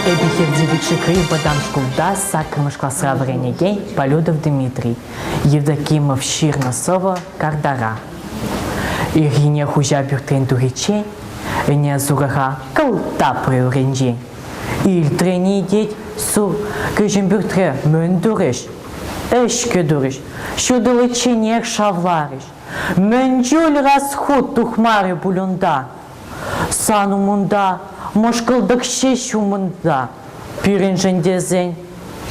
Эпир Девичекри вӑтам шкулта саккӑрмӗш класра вӗренекен Полюдов Дмитрий, Евдокимов ҫырнӑ сӑвӑ Кардара. Ирхине хуҫа пӳртрен тухиччен ӗне сурӑха кӑлта прырӑнчен Илтрӗн-и, тет, су кӗҫӗн пӳртре мӗн турӗҫ? Ӗҫкӗ турӗҫ, ҫутӑличченех шавларӗҫ. Мӗн чуль расхут тухмарӗ пуль унта? Сан умунта мӑшкӑлтӑк ҫеҫ умӑнта. Пирӗншӗн тесен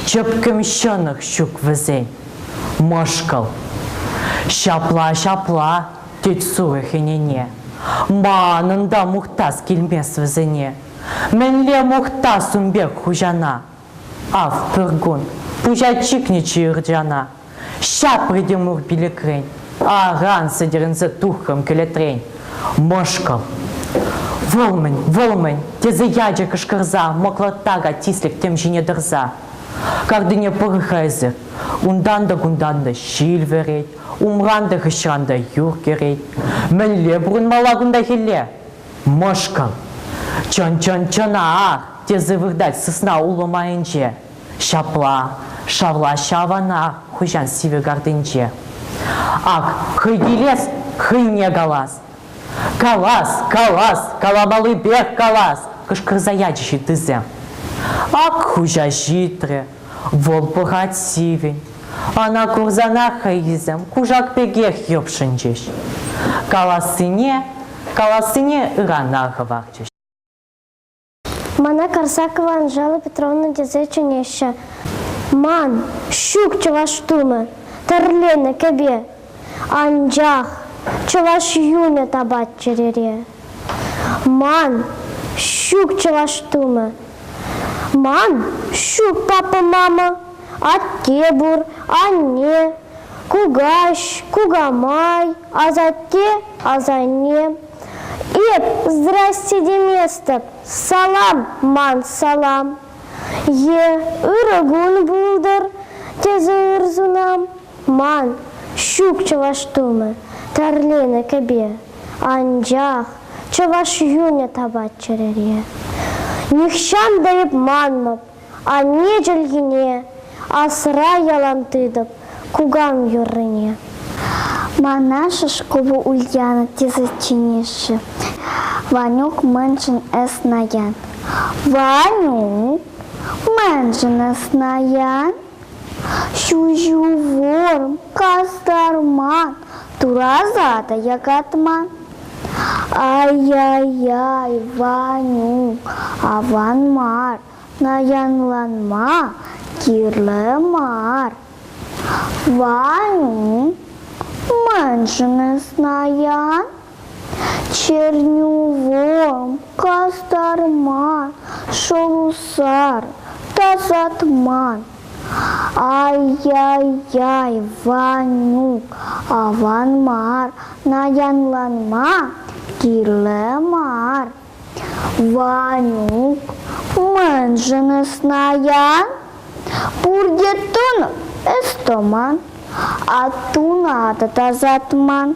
чӗпкӗм ҫӑнӑх ҫук вӗсен. Мӑшкӑл. Ҫапла, ҫапла, тет сурӑх ӗнене. Манӑн та мухтас килмест вӗсене. Мӗнле мухтас ун пек хуҫана? Ав пӗр кун пуҫа чикнӗччӗ ырчана. Ҫапрӗ те мур пилӗкрен. Аран сӗтӗрӗнсе тухрӑм кӗлетрен. Мӑшкӑл. Вӑл-мӗн, вӑл-мӗн, тесе ячӗ кӑшкӑрса мӑклӑрттака тислӗк тӗм ҫине тӑрса. Картине пӑр-ха эсир. Унтан та-кунтан та ҫил вӗрет, умран та хыҫран та юр кӗрет. Мӗнле пурӑнмалла кунта хӗлле? Мӑшкӑм, чӑн-чӑн чӑна-а! тесе выртать сысна улӑмайӗнче. Ҫапла, шавлаҫҫӗ авана хуҫан сивӗ картинче. Ак, хӑй килес, хӑйне калас. Калас, калас, каламаллипех калас! кӑшкӑрса ячӗҫ ыттисем. Ак хуҫа ҫитрӗ, Вӑл пӑхать сивӗн. Ӑна курсанах хӑйсем кушак пекех йӑпшӑнчӗҫ. Калассине, калассине ырана хӑварчӗҫ. Мана Карсакова Анжела Петровна тесе чӗнеҫҫӗ. Ман, ҫук чӑваш тумӗ, тӗрленӗ кӗпе, анчах чӑваш юнӗ тапать чӗрере. Ман ҫук чӑваш тумӗ. Ман ҫук папа мама. Атте пур, анне, кукаҫ, кукамай, асатте, асанне. Эп здрасте деместӗп, салам ман салам. Е ырӑ кун пултӑр, тесе ыр сунам. Ман ҫук чӑваш тумӗ, тӗрленӗ кӗпе. Анчах чӑваш юнӗ тапать чӗрере. Нихҫан та эп манмӑп анне чӗлхине, Асра ялан тытӑп кукам юррине. Мана Шишкова Ульяна тесе чӗнеҫҫӗ. Ванюк мӗншӗн эс наян? Ванюк мӗншӗн эс наян? Ҫуҫывӑр, кастарман, тураса та якатман. Ай-яй-яй, Ванюк, аван мар, наянланма кирлӗ мар. Ванюк, мӗншӗн эс наян? Чернювом кастарма шӑлусар тасатман. Ай-яй-яй, Ванюк, аван мар, наянланма кирлӗ мар. Ванюк, мӗншӗн ӑснаян? Пурте тӑнӑ, ӑс тӑман, а тунатӑ тасатман.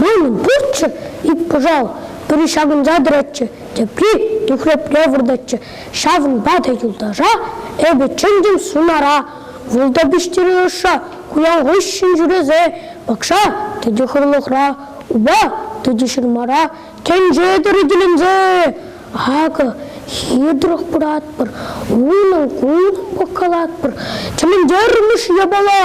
Манӑн пурччӗ ик пӑшал, пӗри ҫакӑнса тӑратчӗ, тепри нӳхрепре выртатчӗ. Ҫавӑнпа та юлташа эпӗ чӗнтӗм сунара. Вӑлта пиҫтере ӑшша, куян хыҫҫӑн ҫӳресе, пакша тӗтӗ хырлӑхра, упа тӗтӗ ҫырмара, тӗнче тӗрекеленсе. Акӑ, хитрӗх пыратпӑр, унӑн кун пӑхкалатпӑр. Тӗлӗнтермӗш япала!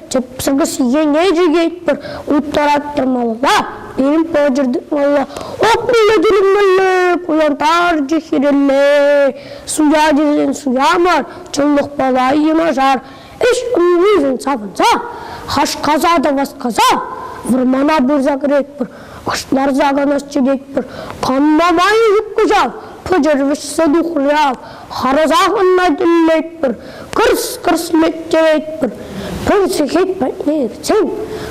Тӗпсӗмӗ сиене чикетпӗр, уттараттӑр малалла, пирӗн пӑчӑр тытмалла, опнелле тӳлемелле, кулянтарчӗ хирелле. Суя тесен суя мар, чӑнлӑхпа ла йӑнашар. Ӗҫ умӗншӗн савӑнса, хашкаса та васкаса вӑрмана пырса кӗретпӗр. хӑснарса канасчӗ тетпӗр. Канма май ҫук ҫав, пӑчӑр вӗҫсе тухрӗ ав. Харӑсах ӑна тӗллетпӗр, кӑрс-кӑрс меттетпӗр. Пӗр сехет патне иртсен,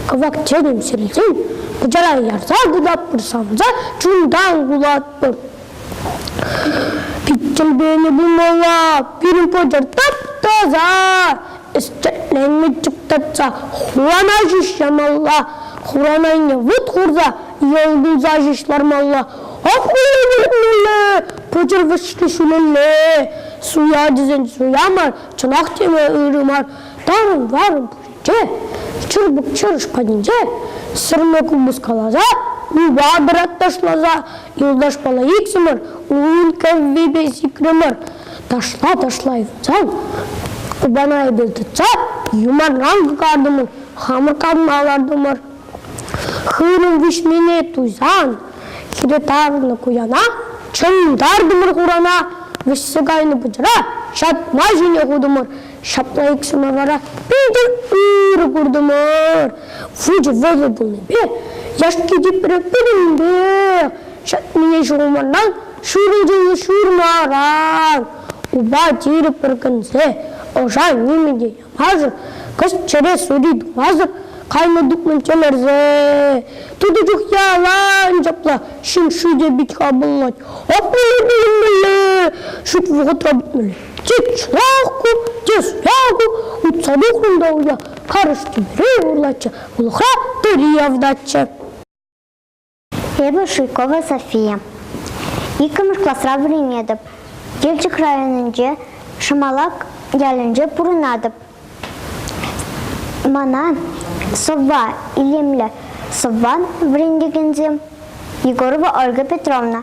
кӑвак чӗнӗм сирсен, пӑчара ярса кӑтартпӑр савса, чунтан кулатпӑр. Пит тӗлпене пымалла, пирӗн пӑчӑр тап-таса, ӗстӗтленме чуптатса хурана ҫӳҫ ямалла, хурана айне вут хурса йӑл пулса ҫӳҫ лармалла. Ак хура выртмалла, пӑчӑркӑшки ҫӳлелле. Суя тесен суя мар, чӑнах теме ырӑ мар. Тарӑн-тарӑн пӳрте, чырпӑк-чырш патӗнче сӗрме купӑс каласа, упа пырат ташласа, юлташпала иксӗмӗр ун кӗввипе сикрӗмӗр. Ташпа ташлай тытсан, кубана эпир тытса, юманран кӑкартӑмӑр, хамӑр канма лартӑмӑр. Хырӑм виҫмине туйсан, хире тарӑннӑ куяна чӑмтартӑмӑр хурана, вӗҫсе кайнӑ пӑчӑра ҫатма ҫине хутӑмӑр. Ҫапла иксӗмӗр вара питӗр ырӑ куртӑмӑр. Вучӗ вӑйӑ пулнипе яшки типре пирӗнпе ҫатмине ҫухӑмаран Ҫурутӑн ҫурмаран упа тирӗ пӗркенсе ӑша нимӗн те ямасӑр, кӑшт чӗре сури тумасӑр кайнӑ тупман чӗмӗрсе. Тутӑ чух ялан ҫапла ҫын шӳте пит хапӑллать. Аппаллипе илмелле, шут вӑхӑтра путмелле. Те чӑлах ку, те суя ку, утса тухрӑм уя, карӑш тӳмере урлаччӗ, улӑхра тӑри явтаччӗ. Эпӗ Шуйкова София. Иккӗмӗш класра вӗренетӗп. Елчӗк районӗнче Шӑмалак ялӗнче пурӑнатӑп. Мана сӑвва илемлӗ сӑвван вӗрентекенсем Егорова Ольга Петровна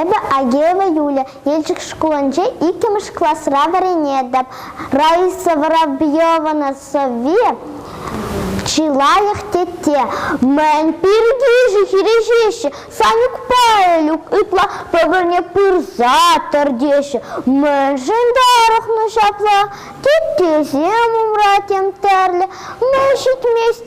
Эпӗ Агеева Юлия, Елчӗк шкулӗнче иккӗмӗш класра вӗренетӗп. Раиса Воробьевна сӑвви чи лайӑх тетте. Мӗн пирки хирӗҫеҫҫӗ, Санюк Павлюк ытла пӗр-пӗрне пырса тӑр теҫҫӗ. Мӗншӗн тарӑхнӑ ҫапла? Теттесем умра тем тӗрлӗ. Мӗн ҫитмест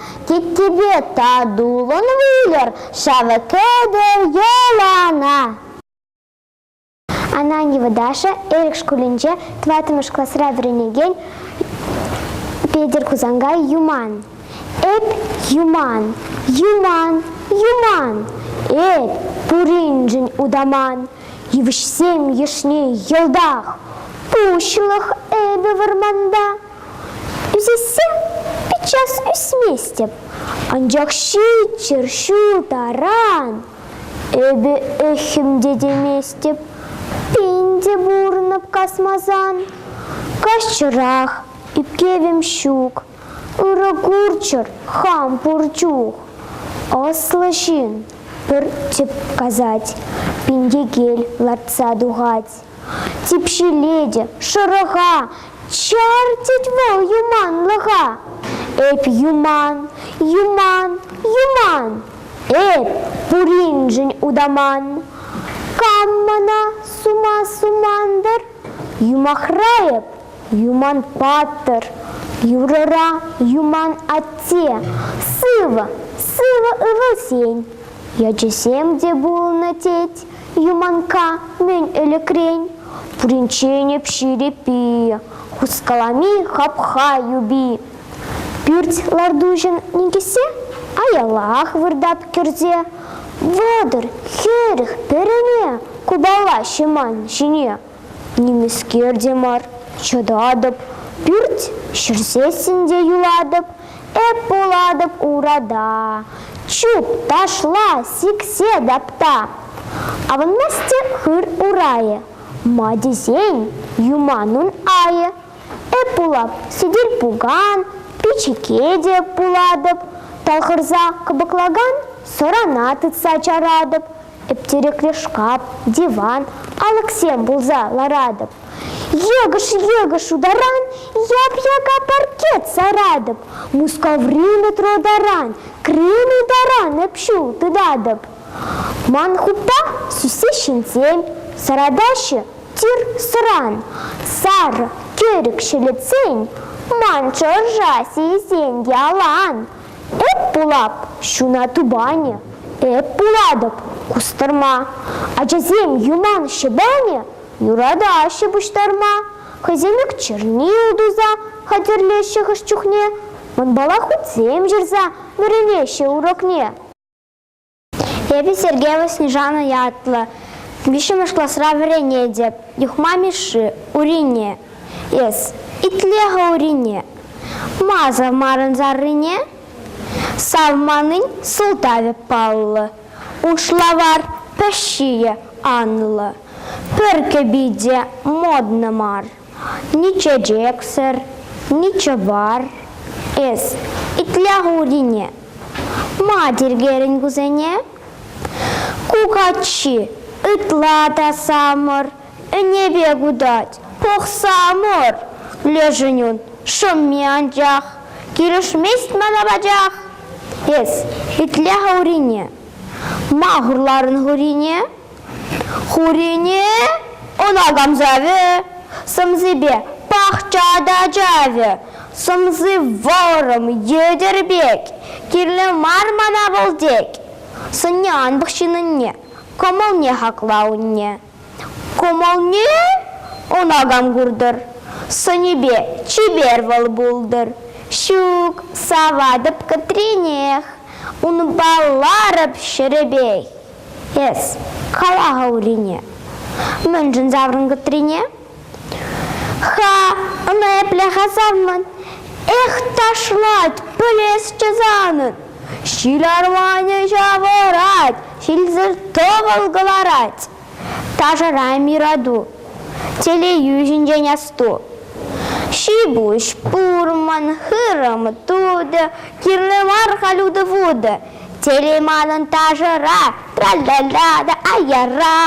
Теттепе татулӑн выльӑр ҫавӑ кӗтӗр йӑлана. Ананьева Даша Эрик шкулӗнче тӑваттӑмӗш класра вӗренекен Петӗр Хусанкай Юман. Эп юман, юман, юман. Эп пуриншӗн утаман. Йывӑҫсем йышне йӑлтах. Пуҫлӑх эпӗ вӑрманта. Ӳсессе пиччес ӳсместӗп, анчах ҫиччӗр ҫул таран эпӗ ӗххӗм те теместӗп. Пин те пурӑнӑп касмасан. Каҫчӑрах ӳпкевӗм ҫук, ырӑ курччӑр хам пур чух. Ӑслӑ ҫын пӗр тӗп касать, пин текел лартса тухать. Типҫилетӗ, шӑрӑха, чӗртет вӑл юманлӑха. Эп юман, юман, юман, эп пуриншӗн утаман. Кам мана сума суман-тӑр? Юмахра эп юман паттӑр. Юрӑра юман атте, сывӑ, сывӑ ывӑлсен. Ячӗсем те пулнӑ тет, Юманкка мӗн ӗлӗкрен? Пуринчен ӗпҫи те пи, хускалами хапха юпи. Пӳрт лартуҫӑн никӗсе аялах выртап кӗрсе. Вӑтӑр хӗрӗх пӗрене купала ҫӑман ҫине. Нимӗскер те мар, чӑтатӑп, пӳрт ҫӗрсессӗн те юлатӑп, эп пулатӑп урада. Чуп, ташла, сиксе тапта. Авӑнмасть те хыр урайӗ, ма тесен юман ун айӗ. Эп пулап сӗтел-пукан, пичӗке пулатӑп, талхӑрса кӑпӑклакан сӑрана тытса чаратӑп, Тӗптерекре шкаф, диван, алӑксем пулса ларатӑп. Йӑкӑш, йӑкӑш утаран, яп-яка паркет саратӑп. Мускаври метро таран, Крымий таран эп ҫул тытатӑп. Ман хуппа сӳссе ҫынсем, саратаҫҫӗ тир-сӑран. Сар тӗрӗк ҫӗлетсен, ман чӑрша сийсен ялан. Эп пулап ҫуна тупанӗ, Эп пулатӑп кустӑрма. Ачасем юман ҫӑпанӗ, Юратаҫҫӗ пуҫтарма. Хӑйсем ик чернил туса Хатӗрлеҫҫӗ хӑш чухне, Мӑнпала хутсем ҫырса Вӗренеҫҫӗ урокне. Эпӗ Сергей Васнежанов ятлӑ. Виҫҫӗмӗш класра вӗренетӗп. Юхма Мишши, Урине. Эс итле-ха Урине. Маза марын заррине. Савманин сӑлтавӗ паллӑ. Ушлавар пӗҫҫийӗ анлӑ. Пӗр кӗпи те модно мар. Ни чечексӗр, ни чӑвар. Эс итле хурине. Ма тиркерӗн кусене? Кукачи, ытла та самӑр, ӗнепе кутать, пӑхса мор. Лешӗн ун шӑмми анчах, килӗшмест мана пачах. Эс итле хурине. Ма хурларӑн хурине? Хурине ӑна камсавӗ, сӑмсипе пахча та чавӗ. Сӑмси вӑрӑм, йӗтӗр пек, кирлӗ мар мана вӑл тек. Сӑнне ан пӑхҫынӑнне, кӑмӑлне хакла унне. Кӑмӑлне ӑна кам куртӑр, сӑнӗпе чипер вӑл пултӑр. Ҫук, саватӑп кӗтренех, унпа ларӑп ҫӗрӗпех. Эс кала-ха Урине, мӗншӗн саврӑнкӑтрине? Ха, ӑна епле-ха савмӑн? Эх, ташлать, пӗлесчӗ санӑн! Ҫил арманӗ ҫавӑрать, ҫилсӗр тӑвӑл кӑларать. Ташӑра мирату, телейӳ ҫинчен асту. Ҫи-пуҫ пурмӑн, хырӑм тутӑ, кирлӗ мар халютӑ-вутӑ. Телей манӑн ташӑра, тра-ла-ла та аяра.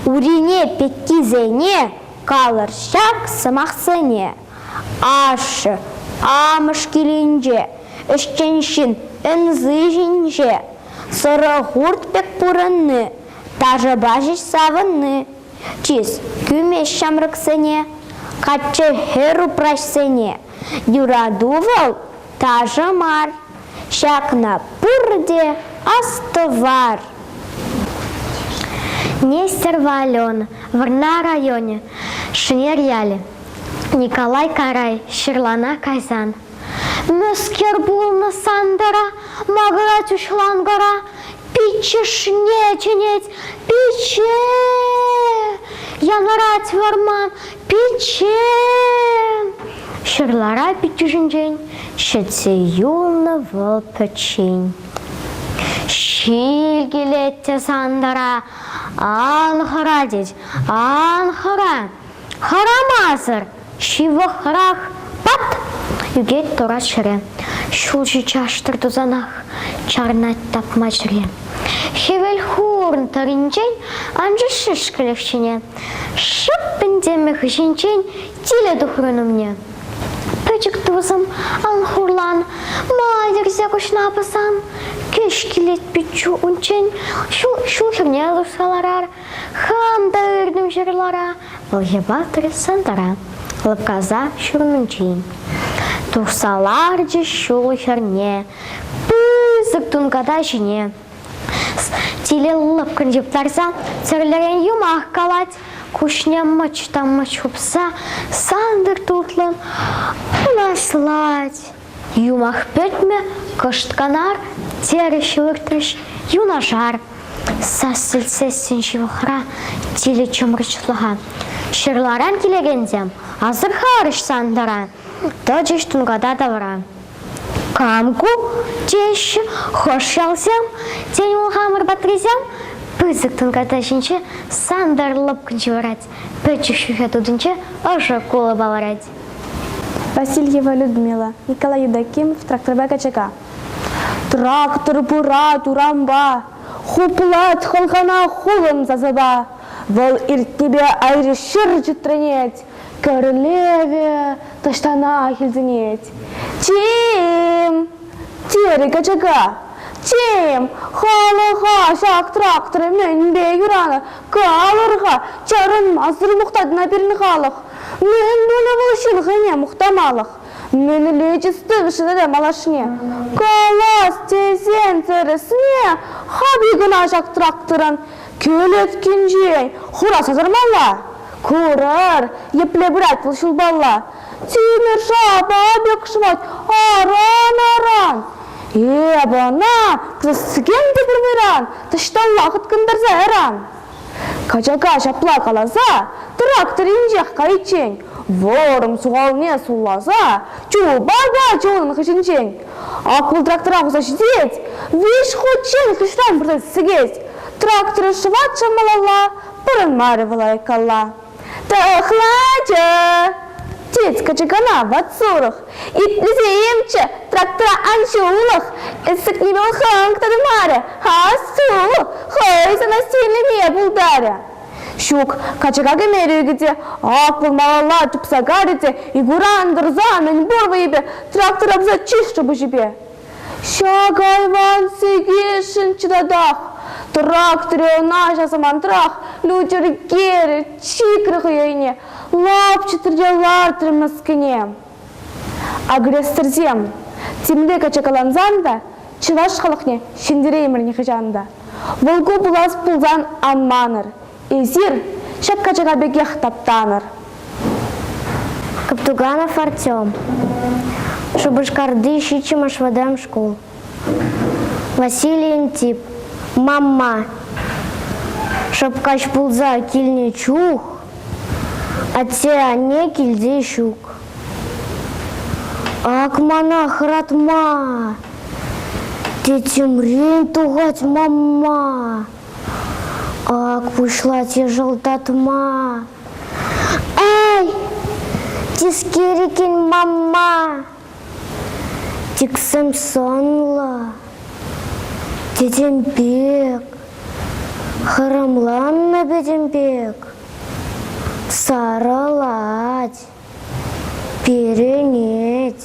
Урине пеккисене, калӑр ҫак сӑмахсене. Ашшӗ, амӑш килӗнче, ӗҫчен ҫын ӗнси ҫинче, сӑрӑ хурт пек пурӑнни, ташӑпа ҫеҫ савӑнни. Чыс кӳмест ҫамрӑксене, каччӑ хӗр упраҫсене. Юрату вӑл Ташӑ мар, ҫакна пурте астӑвар. Нестерова Алена, Вӑрнар районӗ, Шӗнер ялӗ. Николай Карай, ҫырлана кайсан. Мӗскер пулнӑ Сантӑра, Магратюш лангора, Пиччӗшне чӗнет, пичче! Янӑрать вӑрман, Пиччен! ҫырлара пиччӳшӗнчен ҫӗтсе юлнӑ вӑл пӗччен. Ҫил килет те сантӑра, ан хӑра тет, ан хӑра. Хӑрамасӑр ҫывӑхрах пат! ӳкет турат ҫӗре. Ҫулҫи чаштӑр тусанах чарӑнать тапма чӗре. Хӗвел хурӑн тӑрринчен анчӗҫ шӗшкӗлӗх ҫине. Шӑп пӗнтемӗ хыҫӗнчен тилӗ тухрӑн умне. Пӗчӗк тусӑм ан хурлан, мала йӗрсе куҫна пӑсан, кӗҫ килет пиччу унччен ҫул, ҫул хӗрне лартса ларар, хам та иртӗм ҫырлара, вӑл йӑпатрӗ сантӑра, лӑпкаса ҫурнинчен. Тухса ларчӗ ҫул хӗрне, пысӑк тунката ҫине. Тилӗ лӑпкӑн йӑптарса тӗрлӗрен юмах калать. Куҫне мӑч та мӑч хупса сантӑр тутлӑн пӑнаслать. Юмах пӗтмӗ, кӑшт канар, терӗҫ выртрӗҫ юнашар. Сас сӗлтсессӗн ҫывӑхра тилӗ чӑмрӑчлӑха. Ҫырларан килекенсем асӑрхарӗҫ Сантӑра, тӑчӗҫ тунката тавра. Кам ку? теҫҫӗ хӑш ялсем. Тен, вӑл хамӑр патрисем? Пысӑк тӑнката ҫинче Сантӑр лӑпкӑнчи ларать. Пӗчӗк ҫӳхе тутинче ӑшӑ кулӑ палӑрать. Васильева Людмила, Николай Юдакимов тракторпа качака. Трактор пырать урампа, хуплать хӑлхана хулӑн сасӑпа. Вӑл иртнипе айри ҫыр чӗтренет, Кӗрлевӗ таҫтана хӗлтӗнет. Тим! Терӗ качака. Тим, халӑха ҫак трактор мӗнпе юранӑ? Калӑр-ха, чарӑнмасӑр мухтатна пирӗн халӑх. Мӗн тунӑ вӑл ҫылхине мухтамалӑх? Мӗнле тӗс тата малашне? Калас тесен тӗрӗсне хапли кӑна ҫак тракторӑн. Кӗлеткинчен хураса сармалла. Курӑр, епле пырать вӑл ҫулпалла. Тимӗр шапа пек шӑвать аран-аран. Эп ӑна пресс-цикен те пурнӑран, таҫталла хыткӑнтарса яран. Качака ҫапла каласа трактор инҫех кайиччен Вӑрӑм сухалне сулласа чулпа та чулӑн хыҫӗнчен аклӑ трактора хурса ҫитет, виҫ хутчен хыҫран пырса сикет. Тракторӗ шӑватчӗ малалла, пӑрӑнмарӗ вӑл айккалла. Тӑхлачӑ! тет качакана ват сурӑх. Итлесе имчӗ, трактора ан ҫулӑх, эсӗкне вӑл хӑнк та тымарӗ, асу, хӑй сана сирлеме пултарӗ. Ҫук, качака кӗмерӗ те, аслӑ малалла тупса карӗ те, Игура антарса мӗнпур вӑйӗпе трактор апса чышрӗ пуҫӗпе. Ҫак айван сикесшӗн чӑтатах, тракторе ӑна ҫав самантрах лютӗр керӗ чикрӗ хӑй айне, лапчӑтрӗ те лартрӗ мӗскӗне. Агрессорсем, темле качакалансан та чӑваш халӑхне ҫӗнтереймӗр нихӑҫан та. Вӑлку пулас пулсан ан манӑр, эсир ҫак качака пекех таптанӑр. Каптуганов Артем, Шупашкарти ҫиччӗмӗш вӑтам шкул. Василий Антип, мамма, шӑпкаҫ пулса килнӗ чух атте-анне килте ҫук. Ак мана хӑратма, тӗтӗмрен тухать мамма. Ак пуҫлать йӑшӑлтатма. Эй, тискерикин мамма! Тӗксӗм сӑнлӑ, тӗтӗм пек, хӑрӑмланнӑ пӗтӗм пек сарӑлать, перӗнет,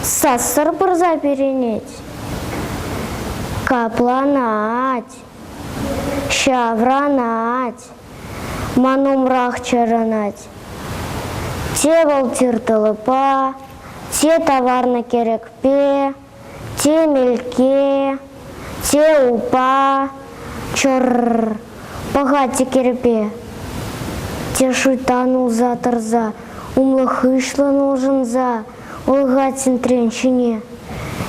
сассӑр пырса перӗнет, капланать. Ҫаврӑнать, ман умрах чарӑнать. Те вӑл тир тӑлӑпа, те таварнӑ кӗрӗкпе, те мелке, те упа, чӑр-р, пӑхать кӗрпе. Те шуйттан улса тӑрса, умлӑ-хыҫлӑн улшӑнса, Ольга центрӗн ҫине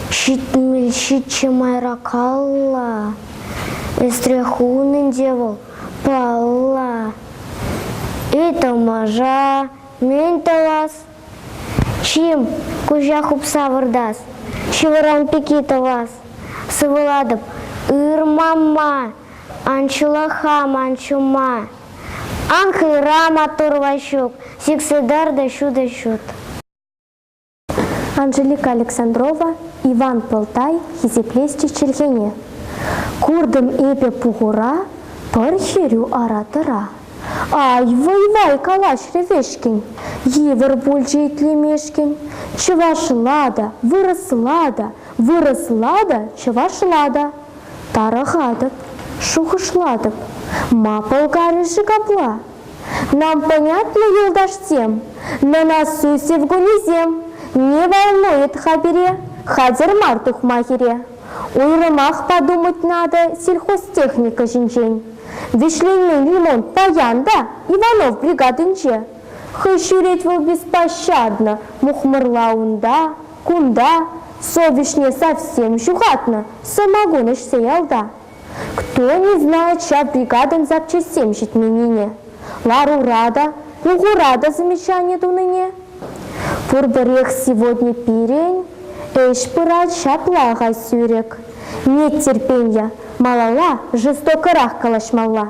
ҫитмӗл-ҫиччӗ майракалла ӗсрех хунӑ ӗнтӗ вӑл. Палла, ытамаша мӗн тӑвас? Чим, куҫа хупса выртас, ҫывӑран пики тӑвас. Сывӑлатӑп, ырмама. Ан ҫулах-ха ман ҫума, Ан хыра маттур Ваҫук, Сиксе тӑр та ҫутӑ ҫут. Анжелика Александрова Иван Пылтай хисеплесчӗ чӗлхене. Куртӑм эпӗ пухура пӗр хӗрӳ ара-тӑра. Ай, вӑй-вай, калаҫрӗ Вешкин, Йывӑр пулчӗ итлемешкӗн. Чӑвашла та, вырӑсла та, Вырӑсла та, чӑвашла та. Тарӑхатӑп, шухӑшлатӑп. Ма пӑлкарӗ-ши капла? Нам понятны, юлташсем, на насу севгунисем. Не волнует-ха пире, хатӗр мар тухма хире. Уйрӑмах подумать надо сельхозтехника ҫинчен. Вӗҫленмен ремонт паян та Иванов бригадинче. Хӑй ҫӳрет вӑл беспощадно, мухмӑрла унта. Кунта совеҫне совсем ҫухатнӑ сӑмакун ӗҫсе ялта. Кто не знает ҫав бригадӑн запчаҫсем ҫитменнине, ларура та, пухура та замечани тунине. Пурпӗрех сегодня пирӗн ӗҫ пырать ҫапла-ха сӳрӗк. Нет терпенья, малалла жестокӑрах калаҫмалла.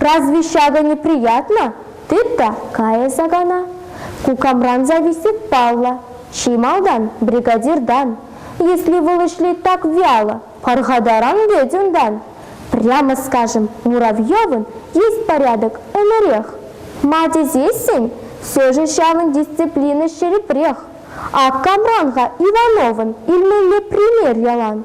Разве ҫакӑ не приятно? тыт кайӗ сакана. Ку камран зависит паллӑ? Чи малтан бригадиртан. Если вӑл ӗҫлет так вяло, пархатаран вӗт унтан. Прямо скажем, Муравьевӑн есть порядок ӗмӗрех. Ма тесессӗн все-же ҫавӑн дисциплина ҫирӗпрех. Ак камран-ха Ивановӑн илмелле пример ялан.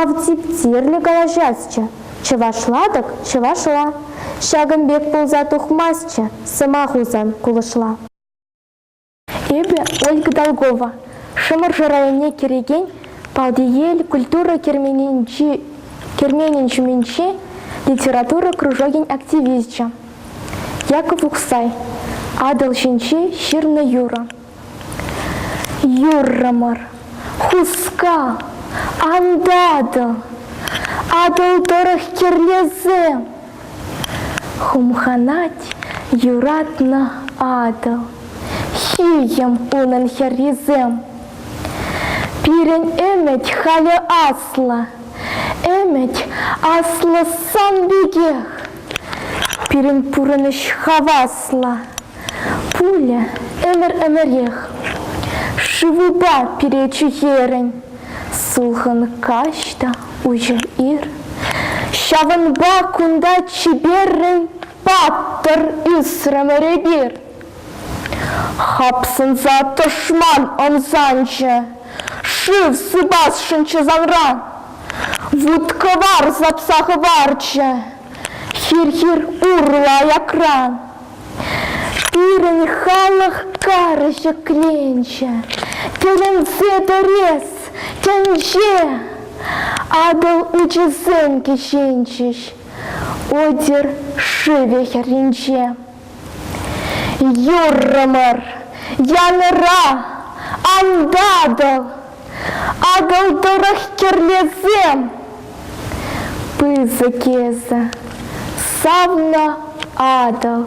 Ав типтерлӗ калаҫасчӗ, чӑвашла-тӑк чӑвашла. Ҫакӑн пек пулса тухмастчӗ сӑмах Хусан кулӑшла. Эпӗ Ольга Долгова, Шӑмӑршӑ районне кӗрекен Палтиел культура керменӗн ҫумӗнчи литература кружокӗн активисчӗ. Яков Ухсай, Атӑл ҫинчи ҫырнӑ юрӑ. Юррӑмӑр, хускал, антатӑл, Атӑл тӑрӑх кӗрлесе Хумханать юратнӑ Атӑл. Ҫийӗм унӑн хӗррисем. Пирӗн ӗмӗт халӗ аслӑ, Ӗмӗт аслӑ сан пекех. Пирӗн пурӑнӑҫ хаваслӑ, Пуля ӗмӗр-ӗмӗрех шывупа перечӳ хӗрӗн. Сулхӑн каҫ та уҫӑ ир. Ҫавӑнпа кунта чиперрӗн паттӑр ӳсрӗмӗр эпир. Хапсӑнса тӑшман ӑмсанчӗ, шыв сыпасшӑнччӗ санран. Вут-кӑвар сапса хӑварчӗ, Хир-хир урлӑ аякран пирӗн халӑх карӑ ҫӗкленчӗ. Тӗлӗнсе тӗрес тӗнче Атӑл учӗсем кӗҫенчӗҫ Одер шывӗ хӗрринче. Юррӑмӑр янӑра антатӑп, Атӑл тӑрӑх кӗрлесем. Пысӑк эсӗ, савнӑ Атӑл,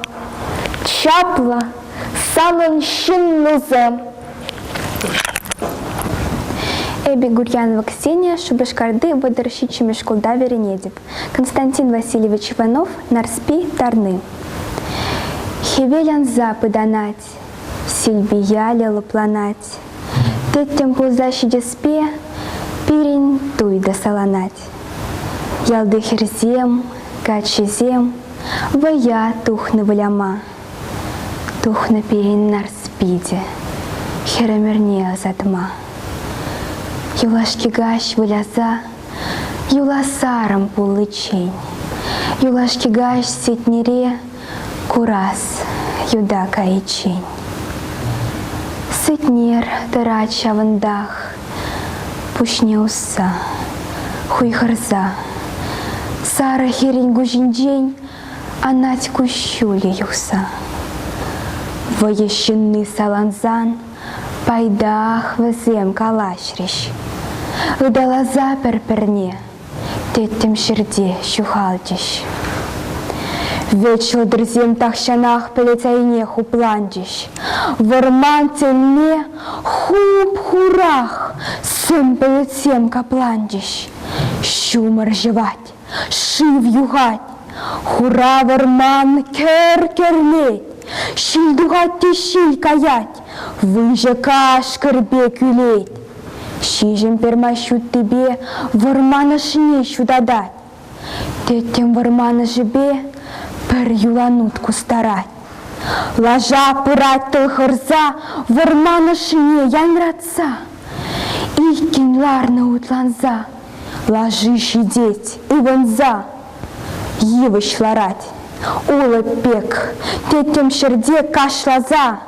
Чаплӑ санӑн ҫыннусем. Эпӗ Гурьянова Ксения Шупашкарти вӑтӑр ҫиччӗмӗш шкулта вӗренетӗп. Константин Васильевич Иванов, Нарспи, Тарны. Хӗвел ӑнса пытанать, Силпиялӗ лӑпланать. Тӗттӗм пулса ҫитеспе Пирӗн туй та саланать. Ялти хӗрсем, каччисем Вӑя тухнӑ выляма. Тухнӑ пирӗн нарс питӗ Хӗр ӗмӗрне ӑсатма. Юлашки каҫ выляса Юласарӑм пуличчен Юлашки каҫ сетнере Курас юда кайиччен Сетнер тӑрать ҫавӑнтах Пуҫне усса Хуйхӑрса Сарӑ хӗрӗн куҫӗнчен Анать куҫҫулӗ юхса Вӑйӑ ҫынни салансан Пайтах вӗсем калаҫрӗҫ. Ыталаса пӗр-пӗрне тӗттӗм ҫӗрте ҫухалчӗҫ. Вӗт ҫӑлтӑрсем тахҫанах пӗлӗт айне хупланчӗҫ. Вӑрман тӗлне хуп-хурах сум пӗлӗтсем капланчӗҫ. Ҫумӑр ҫӑвать. Шыв юхать, хура вӑрман кӗр кӗрлет, Ҫил тухать те ҫил каять, выҫӑ кашкӑр пек ӳлет. Ҫиҫӗм пермай ҫуттипе вӑрман ӑшне ҫутатать. Тӗттӗм вӑрман ӑшӗпе пӗр юланут кустарать. Лаша пырать тыл хырса вӑрман ӑшшине янратса, Иккӗн ларнӑ утланса. Лаши ҫитет, ывӑнса йывӑҫ ларать. Улӑп пек, тӗттӗм ҫӗрте кашласа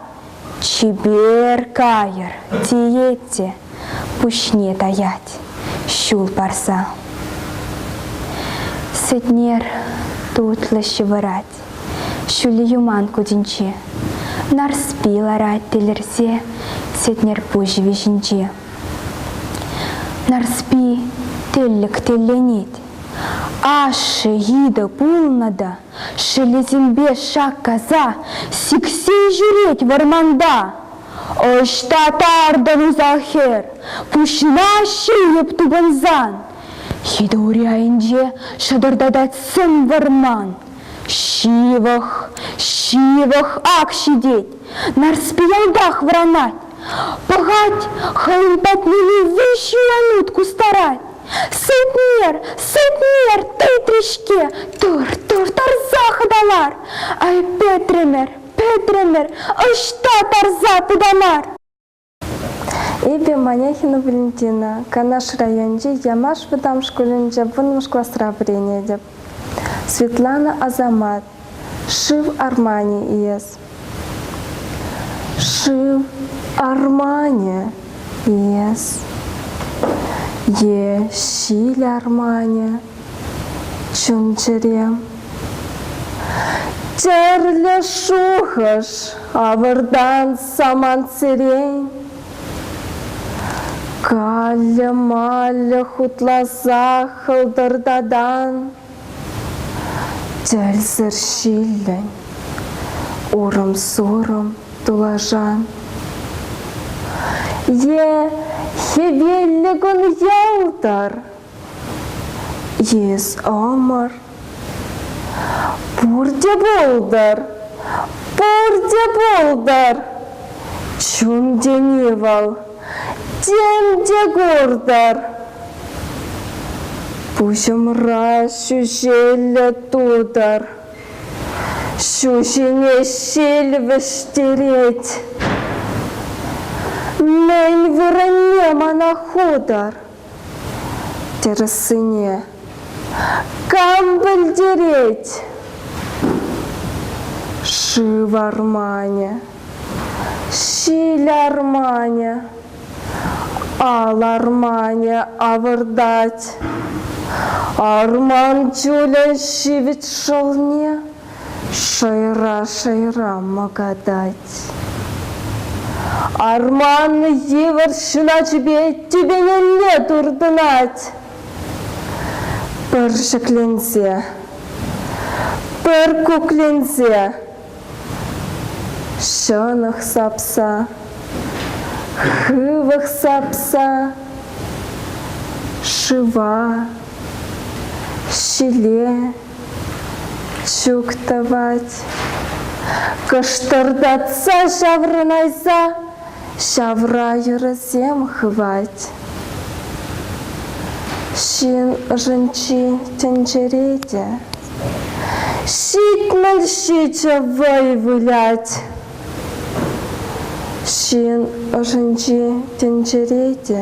чипер кайӑр тиет те пуҫне таять ҫул парса. Сӗтнер тутлӑ ҫывӑрать ҫӳллӗ юман кутӗнче. Нарспи ларать тилӗрсе Сетнер пуҫ виҫинче. Нарспи теллӗк телленет. Ашшӗ йытӑ пулнӑ та шелесемпе шаккаса сиксе ҫӳрет вӑрманта. Ӑҫта тартӑн усал хӗр, пуҫна ҫийӗп тупӑнсан? Йытӑ ури айӗнче шӑтӑртатать сӗм вӑрман. Ҫывӑх, ҫывӑх ак ҫитет, Нарспи ялтах вӑранать. Пӑхать, хӑйӗн патне виҫӗ янут кустарать. Сутнер, сутнер, тытрӗ-ҫке, тур, тур, тарса хӑталар. Ай, пӗтрӗмӗр, пӗтрӗмӗр, ӑҫта тарса тытамар? Эпӗ Маняхина Валентина, Канаш районӗнчи Ямаш вӑтам шкулӗнче вунмӗш класра вӗренетӗп. Светлана Асамат, Шыв арманӗ иес. Шыв арманӗ иес. Е ҫил арманӗ чун-чӗре. Тӗрлӗ шухӑш авӑртан самант сирен. Каллӗ-маллӗ хутласа хӑлтӑртадан. Тӗлсӗр ҫиллен, урӑм-сурӑм тулашан. Е хӗвеллӗ кун ялтӑр, Йӗс ӑмӑр. Пурте пултӑр, пурте пултӑр, чун тени вӑл. Тем те куртӑр. Пуҫӑмра ҫӳҫеллӗ тутӑр. Ҫу ҫине ҫил вӗҫтерет. Мӗн вырӑнне мана хутӑр? Тӗрӗссине кам пӗлтерет? Шыв арманӗ, ҫил арманӗ, ал арманӗ авӑртать. Арман чулӗ ҫивӗч шӑлне Шӑйра-шӑйра мӑкатать. Арман йывӑр ҫуначӗпе тӳпенелле туртӑнать. Пӗр ҫӗкленсе, пӗр кукленсе, ҫӑнӑх сапса, хывӑх сапса, шыва, ҫиле, Ҫук тӑвать. Кӑштӑртатса ҫаврӑнайса ҫавра йӑрӑсем хывать. Ҫын ӑшӗнчи тӗнчере те ҫитмӗл ҫичӗ вӑй вылять. Ҫын ӑшӗнчи тӗнчере те